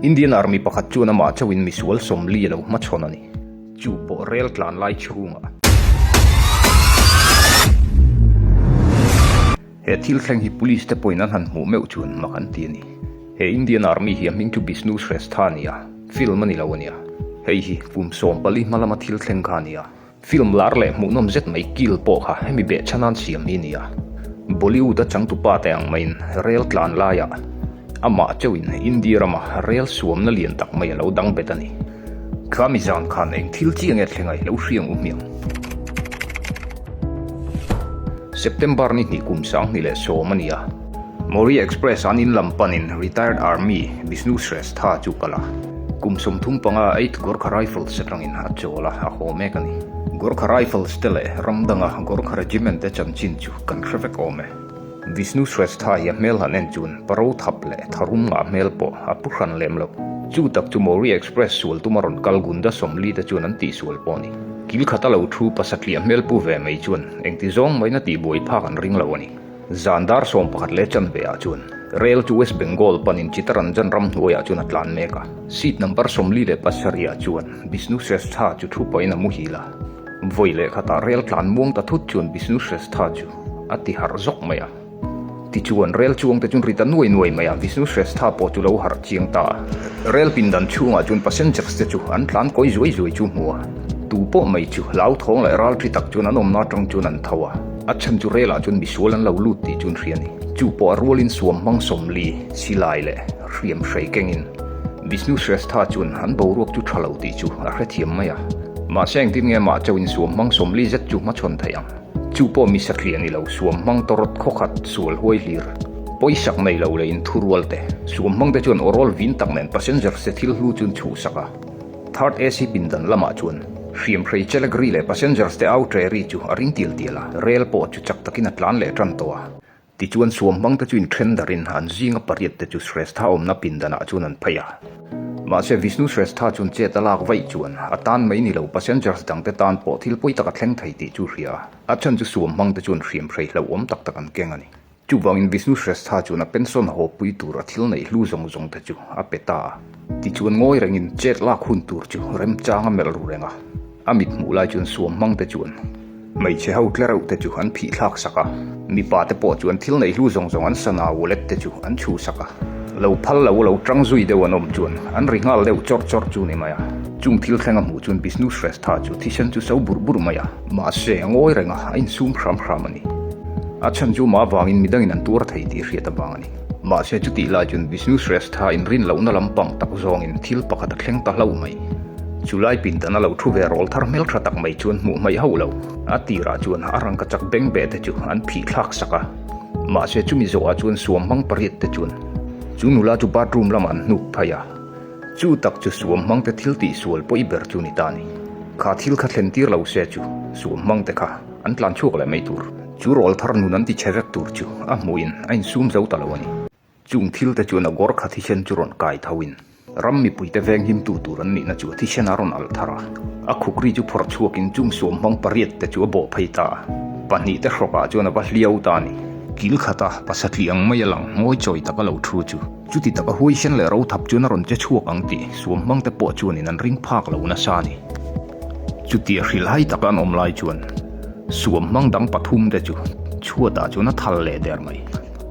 Indian Army pakhat chuan amah chauhin misual sawm li a lo hma chhawn a ni. Chu pawh rel tlan lai chhungah. He thil thleng hi Police te pawhin an han hmuh meuh chuan mak an ti a ni. He Indian Army hi a hming chu Bishnu Shrestha a ni a, film a ni lo a nia. Hei hi kum sawm pali hma lama thil thleng kha a ni a. Film lar leh hmuhnawm zet mai kil pawh kha hemi behcha nan siam hi a ni a. Bollywood a changtupa te ang maiin rel tlan laia amah chauhin India rama rel suamna lian tak mai a lo dang bet a ni. Tlami zan khan eng thil chiang nge thlenga i lo hriang u hmiang? September ni hnih kum sang hnih leh sawm a ni a. Mori Express an in lam panin Retired Army Bishnu Shrestha chu kal a, kum sawm thum panga Eighth Gorkha Rifles atangin a chawl a, a haw mek a ni. Gorkha Rifles te leh ramdanga Gorkha Regiment te chanchin chu kan hre vek awm e. Bishnu Shrestha hi a hmel han en chuan Paro thap leh tharum ngah hmel pawh a pu hran lem lo. Chu tak chu Mori Express sual tuma rawn kal Gunda Somli te chuan an tih sual pawh a ni. Kil khat a lo thu pasatliah hmel pu ve mai chuan engti zawng maina tihbuai phak an ring lo a ni. Zan dar sawm pakhat leh chanve ah chuan rel chu West Bengal panin Chittaranjan ram hnuai ah chuan a tlan mek a. Seat number sawmli leh pasarih ah chuan Bishnu Shrestha chu thu pahin a muhil a. Vawi leh khatah rel tlan muang ta thut chuan Bishnu Shrestha chu a ti harh zawk mai a. Tichuan, rel chuang te chu ri ta nuai nuai mai a, Bishnu Shrestha pawh chu lo harh chiang ta a. Rel pindan chhung ah chuan passengers te chu an tlan kawi zuai zuai chu hmu a, tu pawh mai chu hlauthawng leh ralṭhi tak chuan an awmna aṭang chuan an tho a. A chhan chu relah chuan misual an lo lut tih chu an hria a ni. Chu pawh a rualin suam hmang sawm li, silai leh hriam hrei kengin Vishnu Shrestha chuan an boruak chu tha lo tih chu a hrethiam mai a. Mahse engtin nge mah chauhin suam hmang sawm li zet chu hmachhawn theih ang? Chu pawh mi satliah ni lo, suam hmang tawrawt khawkhat, sual huai hlir, pawisak nei lo leiin thurualte, suam hmangte chuan awrawl vin tak nen passenger se thil hlu chuan chhuhsak a. Third AC pindan lamah chuan hriamhrei Chelagri leh Passengers te au Treery chu a ring tial tial a, rail pawh chu chak takin a tlan leh tan tawh a. Tichuan suam hmang te chu inthen darin an zinga pariat te chu Shrestha awmna pindanah chuan an phei a. Mahse Vishnu Shrestha chuan chet a lak vaih chuan a tan mai ni lo Passengers dang te tan pawh thil pawi taka thleng thei tih chu a hria a. A chhan chu suam hmang te chuan hriamhrei hlauhawm tak tak an keng a ni. Chuvangin Vishnu Shrestha chuan a pension hawppui tura thil neih hlu zawng zawng te chu a pe ta a. Tichuan ngawi rengin chet lak hun tur chu remchanga melh ru reng a. A mit hmuh lai chuan suam hmang te chuan hmeichhe ho tle reuh te chu an phih thlak sak a. Mipa te pawh chuan thil neih hlu zawng zawng an sana wallet te chu an chhu sak a. Lo phal lo, lo ṭang zui deuh an awm chuan an ri nghal deuh chawr chawr chu ni mai a. Chung thil thlenga hmuh chuan Vishnu Shrestha chu thisen chu so burh burh mai a. Mahse, a ngawi reng a, a insum hram hram a ni. A chhan chu mah vangin midang in an tuar thei tih hriat avang a ni. Mahse, chutih lah chuan Vishnu Shrestha inrin lohna lampang tak zawngin thil pakhat a thleng ta hlauh mai. Chulai pindan a lo thu ve rawl thar hmel tha tak mai chuan hmuh hmaih hauh lo. A tirah chuan a rangkachak beng beh te chu an phih thlak sak a. Mahse, chumi zawhah chuan suam hmang pariat te chuan chu nula chu bathroom lamah an hnuk phei a. Chu tak chu suam hmang te thil tih sual pawh i ber chu ni ta ni. Kha thil kha thlen tir lo se chu suam hmang te kha an tlan chhuak leh mai tur. Chu rawl thar nun an ti che vek tur chu a hmuhin a in sum zo ta lo a ni. Chung thil te chuan a gawr kha thisen chu rawn kai tho in ram mipui te veng him tu tur an nihna chu thisen a rawn alh thar a. A khukri chu phawrh chhuak in chung suam hmang pariat te chu a bawh phei ta a. Pahnih te hrawk ah chuan a va hliau ta a ni. Kil khat a pasatliang mai a lang ngawi chawi tak a lo thu chu. Chuti taka huaisen leh rothap chuan a rawn che chhuak ang tih suam hmang te pawh chuan in an ring phak lo nasa a ni. Chutih hrilh hai taka an awm lai chuan suam hmang dang pathum te chu chhuatah chuan a thal leh der mai.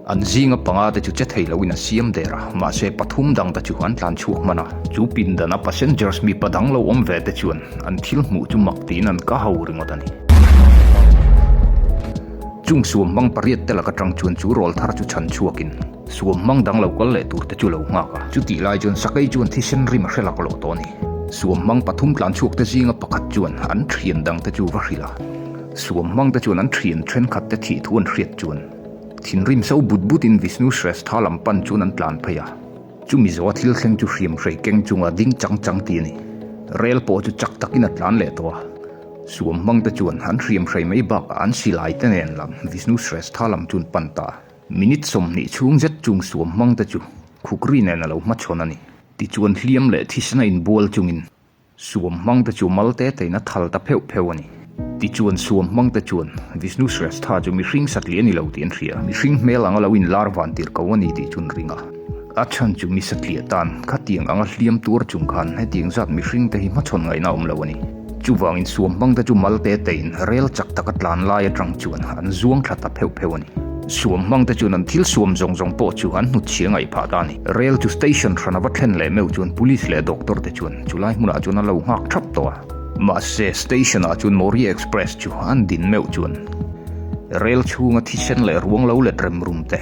An zinga panga te chu che thei loin an siam der a, mahse pathum dang te chu an tlan chhuak hman a. Chu pindan a passengers mipa dang lo awm ve te chuan an thil hmuh chu mak tiin an ka ho ringawt a ni. Chung suam hmang pariat te lak atang chuan chu rawl thar chu chhan chhuak in Suam hmang dang lo kal leh tur te chu lo nghak a. Chutih lai chuan sakei chuan thisen rim a hre lak loh tawh a ni. Suam hmang pathum tlan chhuak te zinga pakhat chuan an thian dang te chu va hrilh a. Suam hmang te chuan an thian thenkhat te thih thu an hriat chuan thinrim so but but in Vishnu Shrestha lam pan chuan an tlan phei a. Chu Mizoa thil thleng chu hriam hrei keng chunga ding chang chang ti a ni. Rel pawh chu chak tak in a tlan leh tawh a. Suam hmang te chuan an hriam hrei mai bakah an silai te nen lam Vishnu Shrestha lam chu an pan ta a. Minute sawmhnih chhung zet chung suam hmang te chu khukri nen a lo hma chhawn a ni. Tichuan hliam leh thisna inbual chungin suam hmang te chu mal te teina thal ta pheuh pheuh a ni. Tichuan suam hmang te chuan Vishnu Shrestha chu mihring satliah a ni lo tih an hria. Mihring hmel anga lo inlar vantir ko a ni tih chu an ring a. A chhan chu Misatliah tan khatiang anga hliam tur chung khan hetiang zat mihring te hi hmachhawn ngaihna a awm lo a ni. Chuvangin suam hmang te chu mal te teiin rel chak taka tlan lai atang chuan an zuang tha ta pheuh pheuh a ni. Suam hmang te chuan an thil suam zawng zawng pawh chu an hnut chhia ngaih phah ta a ni. Rel chu station hran a va thlen leh meuh chuan police leh doctor te chuan chulai hmunah chuan a lo nghak thap tawh a. Mahse, station ah chuan Mawria Express chu an din meuh chuan rel chhunga thisen leh ruang lo let remrum te,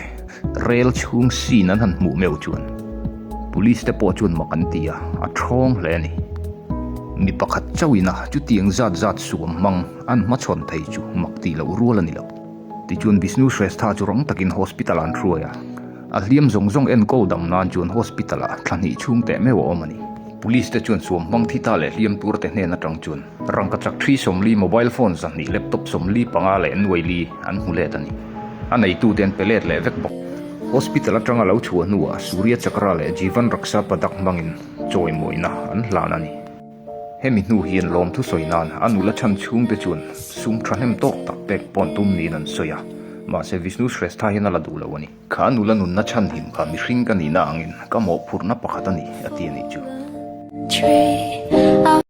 Rel chhung scene an han hmuh meuh chuan Police te pawh chuan mak an ti a, a thawng hle a ni. Mi pakhat chauhina chutiang zat zat suam hmang an hmachhawn thei chu mak tih loh rual a ni lo. Tichuan Bishnu Shrestha chu rang takin hospital ah an hruai a, a hliam zawng zawng enkawh dam nan chuan hospital ah thla hnih chhung teh meuh a awm a ni. Police te chuan suam hmang thi ta leh hliam tur te hnen atang chuan rangkachak thi sawmli, mobile phone zahnih, laptop sawmli panga leh nuaili an hmu let a ni. a neitu ten pe let leh vek bawk. Hospital atanga lo thu a hnuah Surya Chakra leh Jivan Raksha Padak hmangin chawimawina an hlan a ni. Hemi hnu hian lawmthu sawi nan a nula chhan chhungte chuan sum thahnem tawk tak pek pawn tum niin an sawi a, mahse Vishnu Shrestha hian a la duh loh a ni. Kha a nula nunna chhan him kha mihring ka nihna angin ka mawhphurhna pakhat a ni, a ti a nih chu.